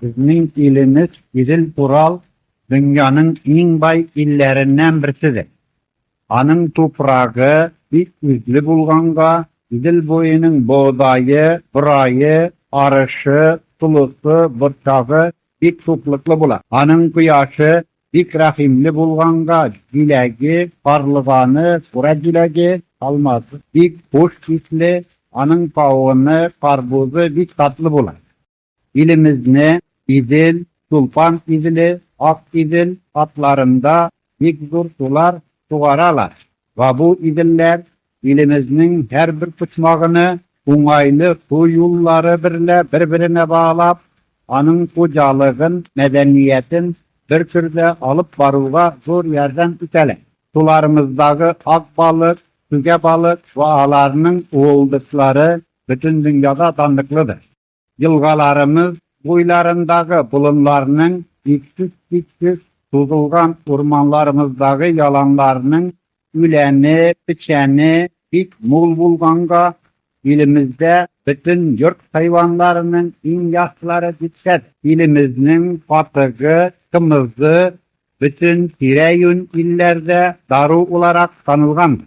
Безнең илемез Идел-Урал дөньяның иң бай илләреннән берседер. Аның туфрагы бик үзле булганга, Идел буеның богдае, борае, арышы, толысы, борчагы бик шуклыклы була. Аның кояшы бик рәхимле булганга, җиләге, карлыганы, кура җиләге, алмазы бик хуш исле, аның кавыны, карбузы бик татлы була. Илемезне Идел, Чулпан Иделе, Ак Идел атларында бик зур сулар сугаралар. Бабу Иделләр илемезнең һәрбер почмагыны уңайлы су юллары берлә бер-беренә баглап, аның хуҗалыгын, мәдәниятен бер төрдә алып баруга зур ярдәм итәләр. Суларымыздагы ак балык, түгә балык ва аларның уылдышлары бөтен дөньяда данлыклыдыр. Елгаларымыз буйларындагы болыннарның, иксез-чиксез сузылган урманларымыздагы яланнарның үләне, печәне бик мул булганга, илемездә бөтен йорт хайванларының иң яхшылары дип шәт. Илемезнең катыгы, кымызы бөтен тирә-юнь илләрдә дару уларак танылгандыр.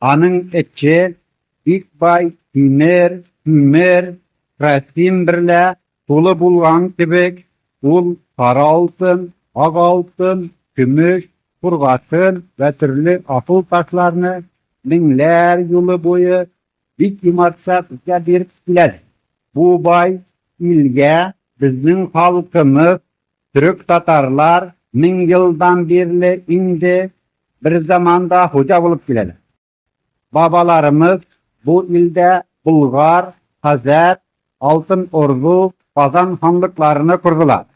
Аның эче бик бай тимер, күмер, красин берлә тулы булган кебек, ул сары алтын, ак алтын, көмеш, кургашын вә төрле асыл ташларны меңләр юлы буе бик юмартча безгә биреп киләдер. Бу бай илгә безнең халкымыз Төрек-татарлар мең елдан бирле инде берзаманда хуҗа булып киләләр. Бабаларымыз бу илдә Болгар, Хәзәр, Алтын Орду, Казан ханлыкларыны кордылар.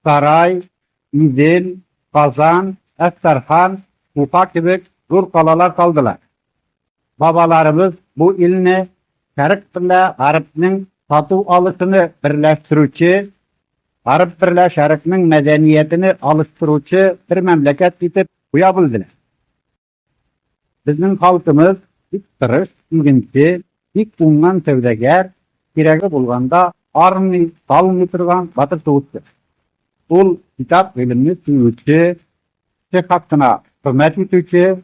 Сарай, Идел, Казан, Әстерхан, Уфа кебек зур калалар салдылар. Бабаларыбыз бу илне шәрык белә гарепнең тату алышыны берләштерүче, гареп берлә шәрыкнең мәдәниятене алыштыручы бер мәмләкәт итеп куя белделәр. Безнең халкымыз бик тырыш, игенче, бик уңган сәүдәгәр, кирәге булганда армый, талмый торган батыр сугышчы. Ул китап-гыйлемне сөюче, кеше хакына хөрмәт итүче,